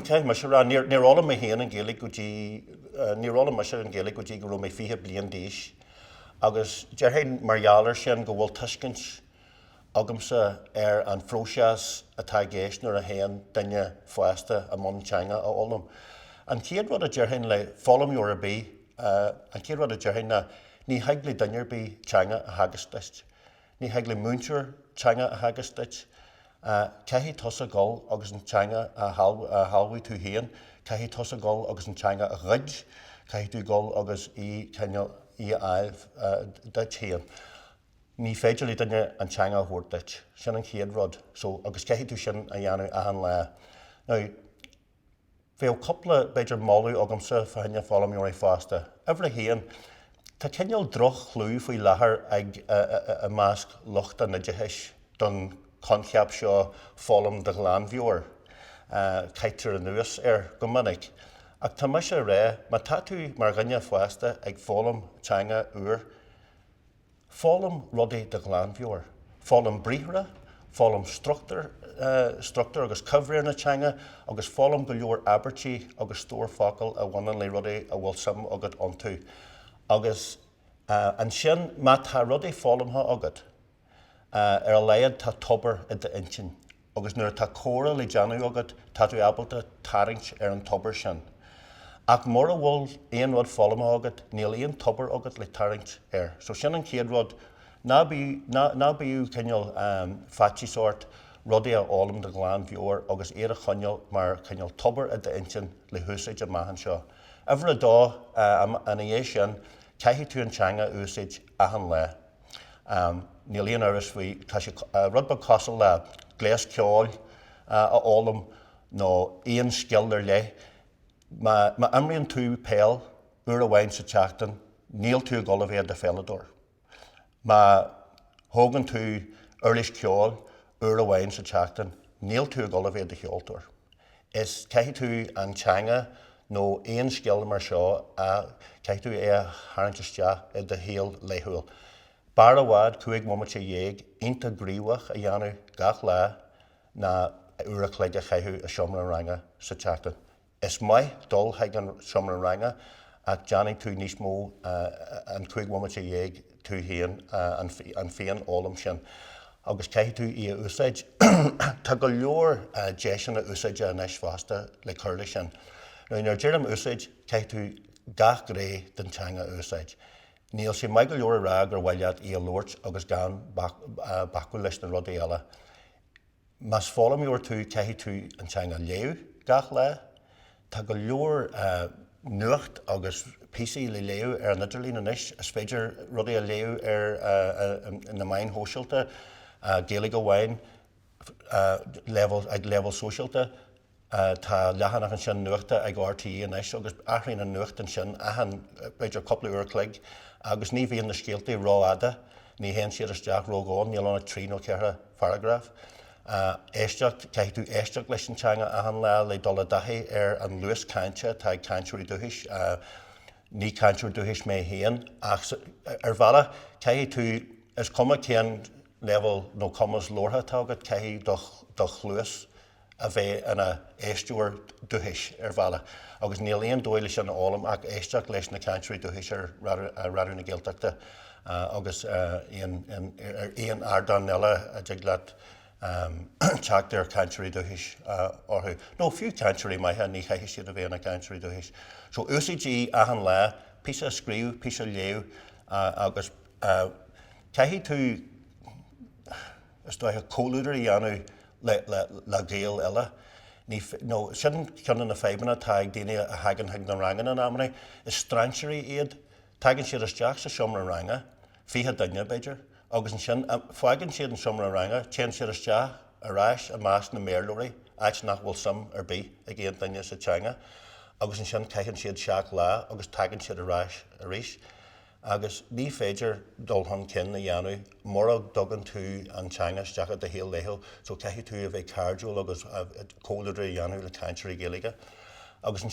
Caithfidh mise a rá, níor, níor fhoghlaim mé féin an Ghaeilge go dtí, níor fhoghlaim mise an Ghaeilge go dtí go raibh mé fiche bliain d'aois agus déarfainn mar gheall air sin go bhfuil tuiscint agamsa ar an phróiseas atá i gceist nuair a théann duine fásta i mbun teanga a fhoghlaim. An chéad rud a déarfainn le foghlaimeoir ar bith, an chéad rud a déarfainn ná ní thig le duine ar bith teanga a theagasc duit. Ní thig le múinteoir teanga a theagasc duit. Caithfidh tusa dul agus an teanga a shealbhú tú féin. Caithfidh tusa dul agus an teanga a ghoid. Caithfidh tú dul agus í, cineál, í a fháil duit féin. Ní féidir le duine an teanga a thabhairt duit. Sin an chéad rud. So, agus caithfidh tú sin a dhéanamh achan lá. Now. Bheadh cúpla, b'fhéidir, moladh agamsa fá choinne foghlaimeoirí fásta. Uimhir a haon, tá cineál droch-chlú faoi láthair ag, i measc lucht an oideachais don choincheap seo 'foghlaim de ghlanmheabhair'. Caithtear anuas air go minic. Ach tá mise ag rá, má tá tú, mar dhuine fásta, ag foghlaim teanga úir, Foghlaim rudaí de ghlanmheabhair. Foghlaim briathra, foghlaim struchtúr agus coimhréir na teanga agus foghlaim go leor abairtí agus stór focal a bhaineann le rudaí a bhfuil suim agat iontu. Agus ansin má tá rudaí foghlamtha agat, ar a laghad tá tobar i d'intinn. agus nuair atá comhrá le déanamh agat tá tú ábalta tarraingt ar an tobar sin. Ach mura bhfuil aon rud foghlamtha agat níl aon tobar agat le tarraingt air. So sin an chéad rud, ná bíodh, ná bíodh cineál faitíos ort rudaí a fhoghlaim de ghlanmheabhair agus iad a choinneáil mar chineál tobar i d'intinn le húsáid amach anseo. Uimhir a dó, ina dhiaidh sin, caithfidh tú an teanga a úsáid achan lá. Am, Níl aon amhras faoi, tá sé rud beag cosúil le gléas ceoil a fhoghlaim nó aon scil ar leith. Má imríonn tú peil uair amháin sa tseachtain, níl tú ag dul a bheith i do pheileadóir. Má thógann tú uirlis ceoil uair amháin sa tseachtain, níl tú ag dul a bheith i do cheoltóir. is caithfidh tú an teanga nó aon scil mar seo a, caithfidh tú é a tharraingt isteach i do shaol laethúil. B'fhearr i bhfad cúig bhomaite dhéag iontach gníomhach a dhéanamh gach lá ná uair a chloig a chaitheamh i seomra an ranga sa tseachtain. Is maith dul chuig an seomra ranga ach déanfaidh tú níos mó an cúig bhomaite dhéag tú féin an féinfhoghlaim sin agus caithfidh tú í a úsáid. Tá go leor deiseanna úsáide anois fosta le cur leis sin. Now nuair a deirim úsáid, caithfidh tú gach gné den teanga a úsáid. Níl sé maith go leor a rá gur mhaith leat í a labhairt agus gan bacadh leis na rudaí eile. Más foghlaimeoir tú, caithfidh tú an teanga a léamh gach lá. Tá go leor nuacht agus píosaí le léamh ar an idirlíon anois. Is féidir rudaí a léamh ar na meáin shóisialta, Gaeilge amháin, b'fhéidir, ag leibhéal sóisialta. Tá leathanach an-suimiúil nuachta ag RTÉ anois agus athraíonn an nuacht ansin achan, b'fhéidir, cúpla uair an chloig agus ní bhíonn na scéaltaí rófhada, ní théann siad isteach ródhomhain, níl ann ach trí nó ceithre pharagraf. Éisteacht, caithfidh tú éisteacht leis an teanga achan lá le dul i dtaithí ar an luas cainte atá ag cainteoirí dúchais. Ní cainteoir dúchais mé féin ach ar bhealach caithfidh tú, is cuma cén leibhéal nó cumas labhartha atá agat, caithfidh do chluas, a bheith ina éisteoir dúchais ar bhealach agus níl aon dóigh leis sin a fhoghlaim ach éisteacht leis na cainteoirí dúchais ar Raidió na Gaeltachta agus ar aon ardán eile a dtig leat teacht ar chainteoirí dúchais orthu. Nó fiú cainteoirí maithe ní chaithfidh siad a bheith ina gcainteoirí dúchais. So úsáid í achan lá, píosa a scríobh, píosa a léamh agus caithfidh tú, Is dóiche, comhluadar a dhéanamh le Gaeil eile nó sin ceann de na fadhbanna atá ag daoine a thagann chuig na ranganna in amanna. Is strainséirí iad. Tagann siad isteach sa seomra ranga, fiche duine, b'fhéidir, agus ansin fágann siad an seomra ranga, téann siad isteach ar ais i measc na mBéarlóirí, áit nach bhfuil suim ar bith ag aon duine sa teanga, agus ansin caitheann siad seacht lá agus tagann siad ar ais arís. agus ní féidir dul chun cinn a dhéanamh mura dtugann tú an teanga isteach i do shaol laethúil so caithfidh tú a bheith cairdiúil agus comhluadar a dhéanamh le cainteoirí Gaeilge agus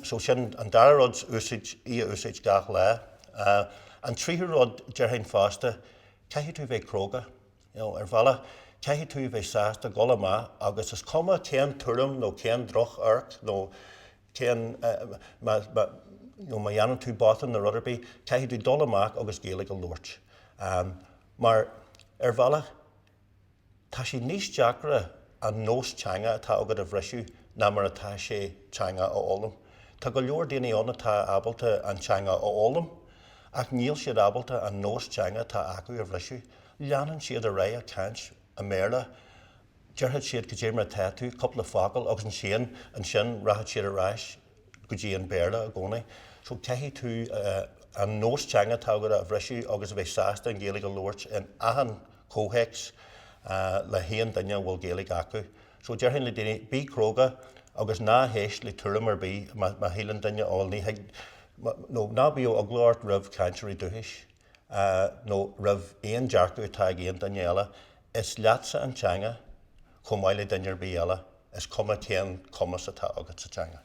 so sin an dara rud úsáid í a úsáid gach lá. An tríú rud déarfainn fosta caithfidh tú a bheith cróga you know ar bhealach caithfidh tú a bheith sásta dul amach agus is cuma cén tuairim nó cén droch amharc nó cé má dhéanann tú botún nó rud ar bith caithfidh tú dul amach agus Gaeilge a labhairt mar ar bhealach tá sé níos deacra an nós teanga atá agat a bhriseadh ná mar atá sé teanga a fhoghlaim. Tá go leor daoine ann atá ábalta an teanga a fhoghlaim ach níl siad ábalta an nós teanga atá acu a bhriseadh. Leanann siad ar aghaidh ag caint i mBéarla déarfaid siad cad é mar atá tú, cúpla focal agus ansin rachaid siad ar ais go dtí an Béarla i gcónaí. So caithfidh tú an nós teanga atá agat a bhriseadh agus a bheith sásta an Ghaeilge a labhairt in achan chomhthéacs le haon duine a bhfuil Gaeilge acu. So déarfainn le daoine bí cróga agus ná héist le tuairim ar bith má shíleann duine ó ní thig nó ná bíodh eagla ort roimh chainteoirí dúchais. nó roimh aon dearcadh atá ag aon duine eile. Is leatsa an teanga chomh maith le duine ar bith eile, is cuma cén cumas atá agat sa teanga.